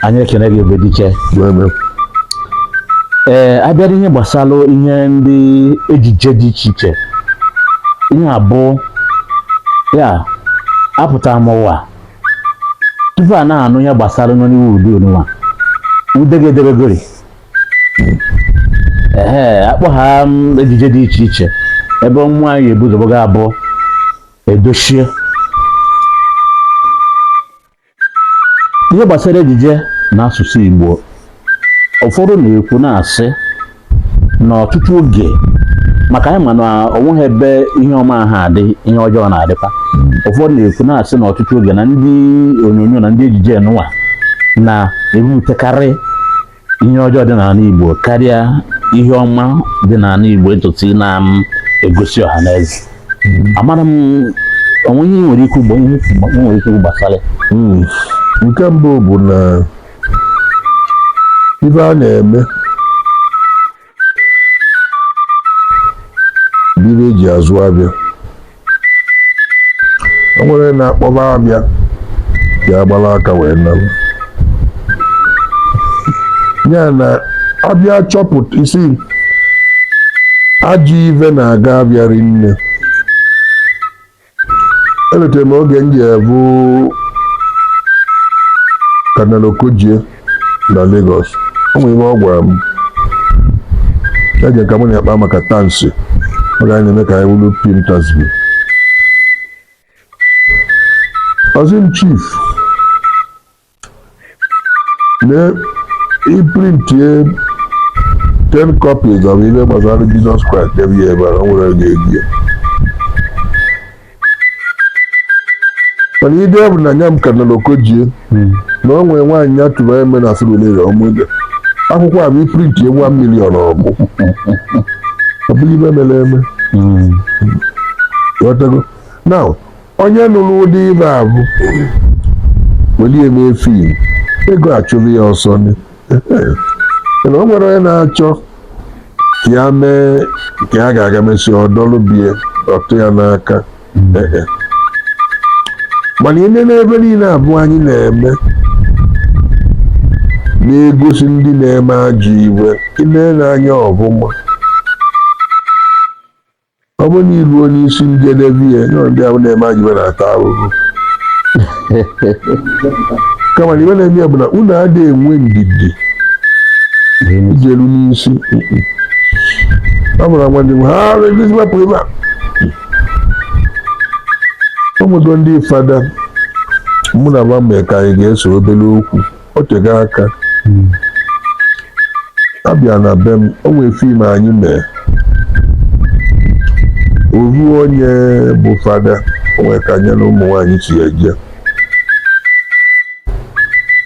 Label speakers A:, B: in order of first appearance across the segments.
A: anyị ekene gị Ebedike ee abịara ihe gbasara ihe ndị ejije dị iche iche ihe a bụ ya apụtara m ụwa tupu a na-anụ ihe gbasara Nollywood nụnwa ude ga-edebegori ee akpọ ha mm, ejije dị iche iche ebe nwa anyị ebuzoboga abụọ edochie ihe gbasara ejije na asụsụ Igbo ụfọdụ na-ekwu na-asị na ọtụtụ oge maka anyị ma na onweghị ebe ihe ọma ha adị ihe ọjọọ na-adịkwa ụfọdụ na-ekwu na-asị na ọtụtụ oge na ndị onyonyo na ndị ejije nụwa na-ebutekarị ihe ọjọọ dị n'ala Igbo karịa ihe ọma dị n'ala Igbo etutu na-egosi ọha na eze amara m o nwee ihe i nwere ike ikwu gbasara hmm.
B: nke mbụ bụ na ife a na-eme bụ ive eji azụ avịa o nwere na-akpọba avịa ya agbala aka wee nalụ nya na a bịa chọpụta isi ajọ ive na-aga avịa rinne elotere m oge m jee ịvụ Cardinal Okogie na Lagos o nwere ihe ọ gwara m eji ka mụ na ya kpaa maka Tansi ọ ga na-eme ka anyị wulu fim Tansi ọ sị m chief na i printie 10 copies of ihe gbasara Jizọs Kraịst debe ya ebe a o nwerọ ga-ego ya mana i deve na nya Cardinal Okogie na o nwere nwaanyị ya tụvara ime na Surulere ọ bụ ụdị akwụkwọ avụ i printie one miliọn ọ gwụ ọ bụghị ive mere eme ghọtago now onye nụrụ ụdị ive avụ welie mee fim ego achụrụ ya ọsọ ni. mana o nwere onye na-achọ ka ya mee ka ya ga-aga mesi ọdọlụ bie ọtụ ya n'aka Eh, eh. mana ị nee na ive niile avụ anyị na-eme na-egosi ndị na-eme ajọ ive ị nee anya ọvụma ọ bụrụ na i ruo n'isi njedebe ya na ndị ahụ na-eme ajọ ibe na-ata ahụhụ kama na ibe na-eme ya bụ na unu adịghị enwe ndidi ijelu n'isi ọ bụrụ agwa ndị ha arụ ebizi mapụ ebe a ụfọdụ ndị fada mụ na wa mee ka anyị ga-ese obere okwu o tego aka a bịa na be m o nwee fim anyị mee ofu onye bụ fada o nwee ka nya na ụmụ nwaanyị si eje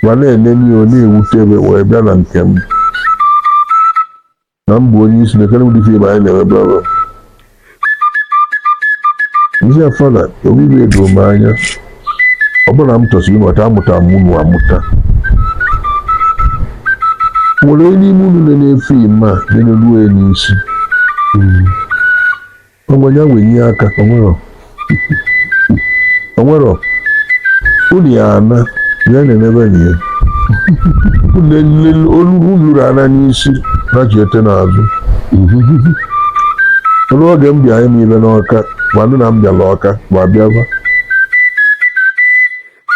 B: ma na-enene ya ọ na-ewute ebe wee bịa na nke m na m bụ onye isi na kedụ ụdị fim anyị na-eme bla bla m sị ya fada ofu ibe edoro m anya ọ bụrụ na m chọsị ịnọta amụta m unu amụta nwere onye n'ime unu na-ene fim a na-eneruo ya n'isi onwe ya wee nye aka o nwero o nwero unu ya ana ya na-enebe na ya olu lụrụ ana n'isi na ji ete n'azụ o lu oge m bịa ime ibe n'ọka wa nụ na m bịala ọka wa bịaba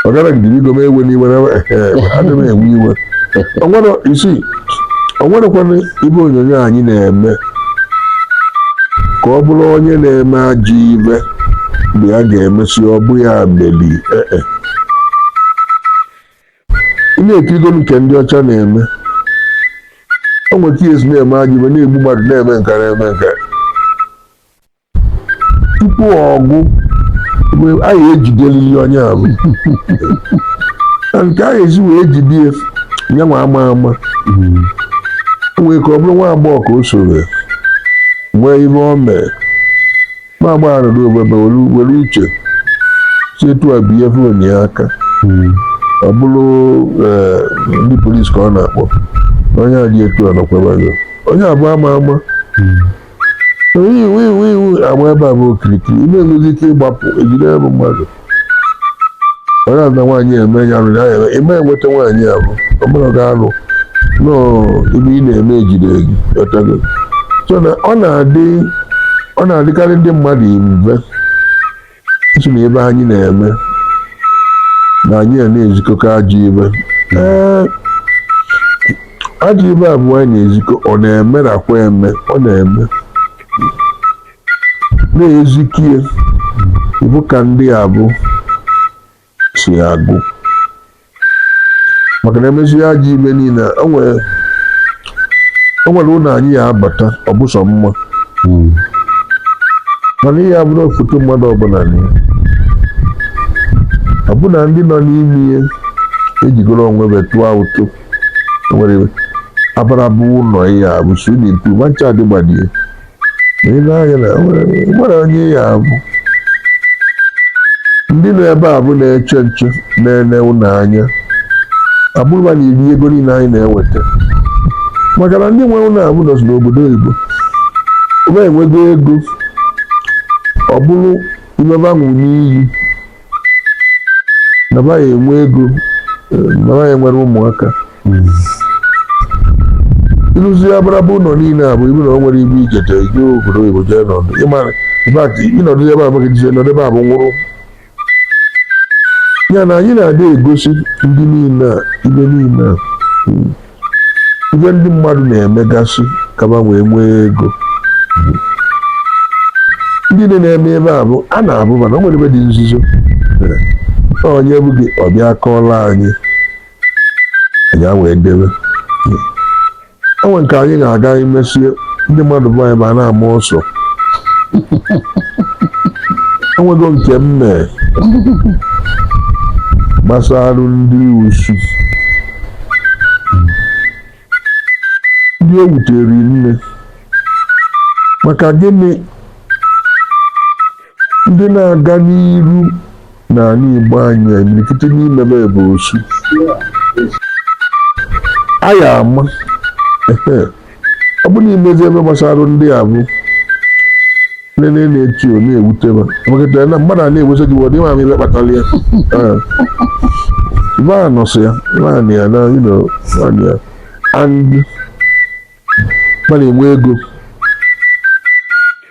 B: ọ gara gidiri igo m ewe n'iwe na adị m ewe iwe o nwere m sị o nwerekwanụ ibe onyonyo anyị na-eme ka ọ bụrụ onye na-eme ajọ ibe mgbe a ga-emesi ọ bụ ya meli ee e. ị na-ekirigo nke ndị ọcha na-eme o nwere ka e si na-eme ajọ ibe na-egbu mmadụ na-eme nka na-eme nka tupu ọ gwụ a ya-ejidelili onye ahụ na ka a ya-esi wee jide ya nyanwa ama ama o nwee ka ọ bụrụ nwa agbọghọ ka o soro nwee ihe o mee nwa agbọghọ nọdụ ofu ebe were uche si etu a bie fon ya aka ọ bụrụ ee, ndị polisi ka ọ na-akpọ onye a dị etu a nọkwa ebe a onye abụ ama ama iwu iwu iwu agba ebe abụ okirikiri ị ma-enwezi ike ịgbapụ e jide ya bụ mmadụ ọ na na nwaanyị eme ya rụrụ ya eme ịma enweta nwaanyị abụ ọ bụrụ ga alụ nọọ ibe ị na-eme e jide gị ọtago so na ọ na-adị ọ na-adịkarị ndị mmadụ mbe Ịsị na ibe anyị na-eme na anyị a na-ezikọkọ ajọ ibe ee ajọ ibe abụ anyị na-ezikọ ọ na-emerọkwa eme ọ na-eme na-ezikie bụ ka ndị abụ so ya agụ maka na emezi ajọ ibe niile o nwere ụlọ anyị ya abata ọ bụ sọ mma mana ị ya-abụrọ foto mmadụ ọbụla na ya ọbụna ndị nọ n'ime ya ejikọrọ onwe ba tụọ ụtụ nwere abara bụ ụlọ ị ya-abụ swimming pool macha adịgbadie ile anya na nwere onye ị ya-abụ ndị nọ ebe abụ na-eche nche na-ele ụlọ anya abụrụ ba na-eri ego niile anyị na-eweta maka na ndị nwe ụlọ abụ nọzi n'obodo oyibo ba enwego ego ọ bụrụ imebanwu n'iyi na ba ya-enwe ego eh, na ba ya-enwere ụmụaka ịrụsịa abaraba ụlọ niile abụ ibu na o nwere ibu ijete ije obodo oyibo jee nọdụ ịmara ịbak ịnọdụ ebe abụghị jije nọdụ ebe abụ nwụrụ ya na anyị na-adị egosi ndị niile a ibe niile a ibe ndị mmadụ na-emegasị ka ba wee nwee ego ndị niile na-eme ebe abụ a na-abụ mana o nwere ibe dị nzuzo mere na onye bụ gị ọbịa kọọla anyị anyị a wee debe o nwere nke anyị ga-aga e mesịa ndị mmadụ bụ anyị ba a na-ama ọsọ o nwego nke m mee gbasara ndị osu ndị o wutere nne maka gịnị ndị na-aga n'iru n'ala Igbo anyị imirikiti n'ime ba bụ osu anyị ama ọ bụ na imezi ibe gbasara ndị abụ nene na-eti o na-ewute ba ma kịta na mmadụ a na-ewesa gị wọdụ ịma m ibe kpatara ya ba anọsịa naanị ya na naanị ya and ba enwe ego